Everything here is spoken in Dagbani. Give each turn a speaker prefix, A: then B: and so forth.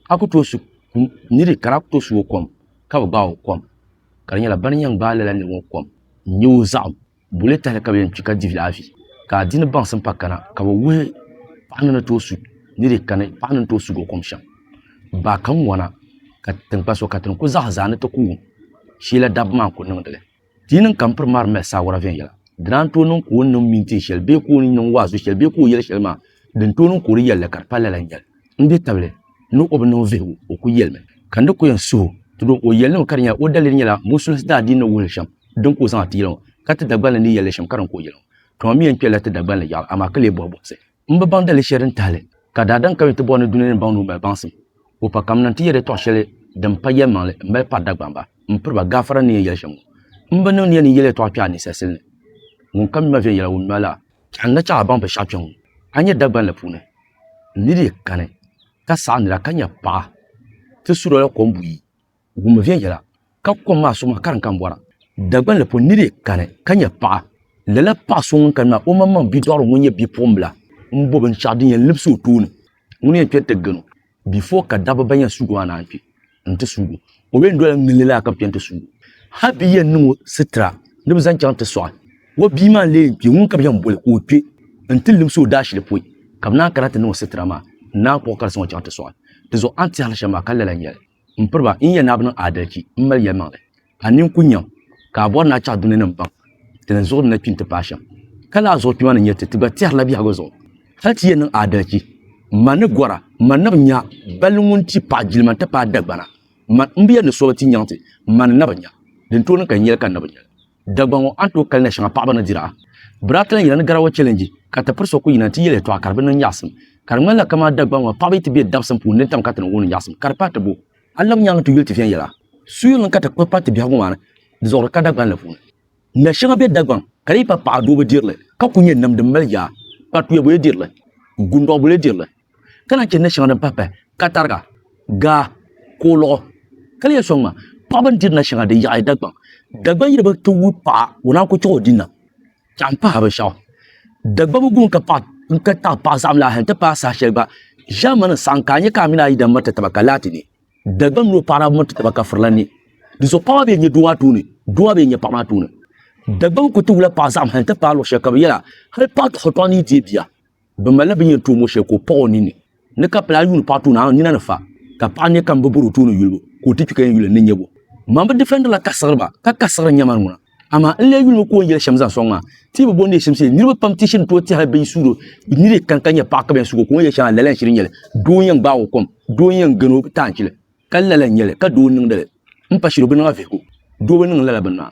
A: ka ku tooi su kum niri ka daa ku tooi su o kom ka bi gbaai o kom ka di nyɛla bani yɛn gbaai lala niri ŋɔ kom n nyɛ o zaɣim boli tahali ka bi yɛn kpi ka dihi afi ka a di ni baŋsim pa kana ka bi wuhi paɣa ni ni tooi su niri kani paɣa ni ni tooi sugi o kom shɛm baa ka ŋwana ka tinkpa so ka ti ni ku zaɣi zaa ni ti ku wum shee la dabba maa n ku niŋdi li. Ti yi niŋ ka m piri mari mali saawara viɛnyɛla, di daa ni tooi niŋ ka o ni niŋ mintin shɛli bee ka o ni niŋ waazu shɛli bee ka o yɛli shɛli maa din tooi niŋ ka o di yɛli li ka di pa lala n-nyɛli. N be tabili ni o bi niŋ vihigu, o kul yɛlimi ka n di kul yɛn suh o. Tudu o yɛli ni mi ka di nyɛla o daliri nyɛla musulinsi daa dii ni wuhi li shɛm din ka o zaŋ a ti yɛli ŋɔ, ka ti Dagbani ni yɛli li shɛm ka di ni ka o yɛli ŋɔ. Tɔm m mi yɛn kpɛrila ti Dagbani yaɣili amaa ka lee bɔhi buɣisi. N bi baŋ dali shɛli din tahili ka daadam ka yi ti bɔri ni dunia ni baŋ ni o mali baŋsim. O pa kamina nti yɛli tɔɣ shɛli din pa yɛlimaŋli m-mali pari Dagbamba ba m-piri ba gaafara ni yɛn yɛli shɛm ŋɔ. M bi niŋ ni yɛn ni yɛli ya tɔɣ kpɛɣu a ninsalisili ni. Ŋunkam mi ma viɛnyɛla ŋun mi ma laa. Chɛɣu n-na chaŋ a baŋ binshɛɣu kpɛŋ ŋɔ. A nya Dagban la puuni n ni dii kani ka saɣi nira ka nya paɣa ti suri o la kom buyi wum viɛnyɛla ka kom maa suɣuma ka di kan bɔra Dagbanli pɔ ni di kani ka nyɛ paɣa lala paɣa so ŋun kani maa o maŋmaŋ bidɔɣiri ŋun nyɛ bipuɣimbila m-bɔ binshɛɣu din yɛn libisi o tooni ŋuni yɛn kpɛri ti gani o before ka dabba ban yɛn suugi maa naan kpi n-ti suugi o o yɛn dola ŋilli lala ka bɛ chani ti suugi o hal bɛ yɛn niŋ o sitira ni bɛ zaŋ chaŋ ti sɔɣi o bia maa n-lee yɛn kpi ŋun ka bɛ yɛn boli ka o kpe n-ti libisi o daashili pɔi ka bɛ naan kana ti niŋ o sitira maa n-naan kpuɣi ka di zaŋ o chaŋ ti sɔɣi di zuɣu a ni tɛhiri li shɛm maa ka lala n-nyɛ li m piriba n yɛn naai bi niŋ aadalchi m mali yɛlimaŋli ka nini ku nyam ka a bɔri ni a chaɣ duŋninim baŋ ti ni zuɣuri na kpi nti paai shɛm ka lala zuɣu kpima ni nyɛ ti ti gba tɛhirila biɛhigu zuɣu hal ti yɛn niŋ aadalchi m ma ni gɔra m ma ni bi nya balli ŋun ti paɣ jilima nti paai dagbana m ma m bi yɛli ni so bi ti nyaŋ ti m ma ni na bi nya din tooi niŋ ka n yɛli ka n na bi nyɛli Dagbaŋ ŋɔ a ni tooi kali na shɛŋa paɣaba ni diri a. Biraata lan yina ni garawa chɛlɛnji ka ti piri so ku yina nti yɛli yɛtɔɣa ka di bi niŋ nyaɣisim. Ka di ŋmanila kaman Dagbaŋ ŋɔ paɣaba yi ti be dabsim puuni din tam ka ti niŋ wuhindi nyaɣisim ka di paai ti bo. A lab nyaaŋa ti yuli ti viɛnyɛla suyirili ka ti kpuɣi pari ti biɛhigu maa ni di zuɣuri ka Dagbaŋ la puuni. Na shɛŋa be Dagbaŋ ka di yi pa paɣa doo bi diri li ka ku nyɛ nam din mali yaa, kparituya bo yi diri li, gundɔɣu bo yi diri li. ka lahi chɛ ni shɛŋa din pahi pahi katariga, gaa, kooliɣu, ka lahi yɛli sɔŋ maa, paɣaba ni diri nashɛŋa di yaɣi Dagbaŋ. Dagbaŋ yili bi ti wuhi paɣa o naan ku chiɣi o dini na. Tɛɣu m-pahi binshɛɣu. Dagbaŋ guŋ ka taɣi paɣa saɣim lahi nti pahi saha shɛli gba ʒiɛmani n-saɣim ka a nya ka a mini a yidana miri ti taba ka laati ne. Dagbaŋ mini o paɣa daa miri ti taba ka furila ne. Dinzuɣu paɣa maa bee n-nyɛ doo maa tooni, doo maa bee n-nyɛ paɣa maa tooni. Dagbaŋ ku ti wula paɣa saɣim hali nti paai luɣ shɛli ka bɛ yɛl a hal paɣa tɔɣu tɔɣu ni yi deei bia. Bi malila bi yɛn tuumo shɛli ka o paɣ o nini ni ka pili a yuuni paɣ tuuni a nina ni fa ka paɣ nya ka m bi bɔri o tuuni yulibu ka o ti kpi ka yɛn yuli n ni nyɛbu. Man bi difɛndirila ka siɣiri ba ka ka siɣiri nyɛmani ŋuna. Amaa n lee yuli mi ka o ni yɛli shɛm zaŋ sɔŋ maa. Ti yi bi bɔri ni yi shim shee, niriba pam ti shiri tooi ti hali bɛ yi suhiri o ni di kani ka nyɛ paɣ ka bɛ yɛn sugi o ka o ni yɛli shɛŋa lala n-shiri nyɛli. Doo n-yɛn gbaag o kom, doo n-yɛn gani o taanchili ka lala n-nyɛli ka doo n-niŋdi li m pa shiri o bi niŋ a vihigu. Doo bi niŋ lala bini maa.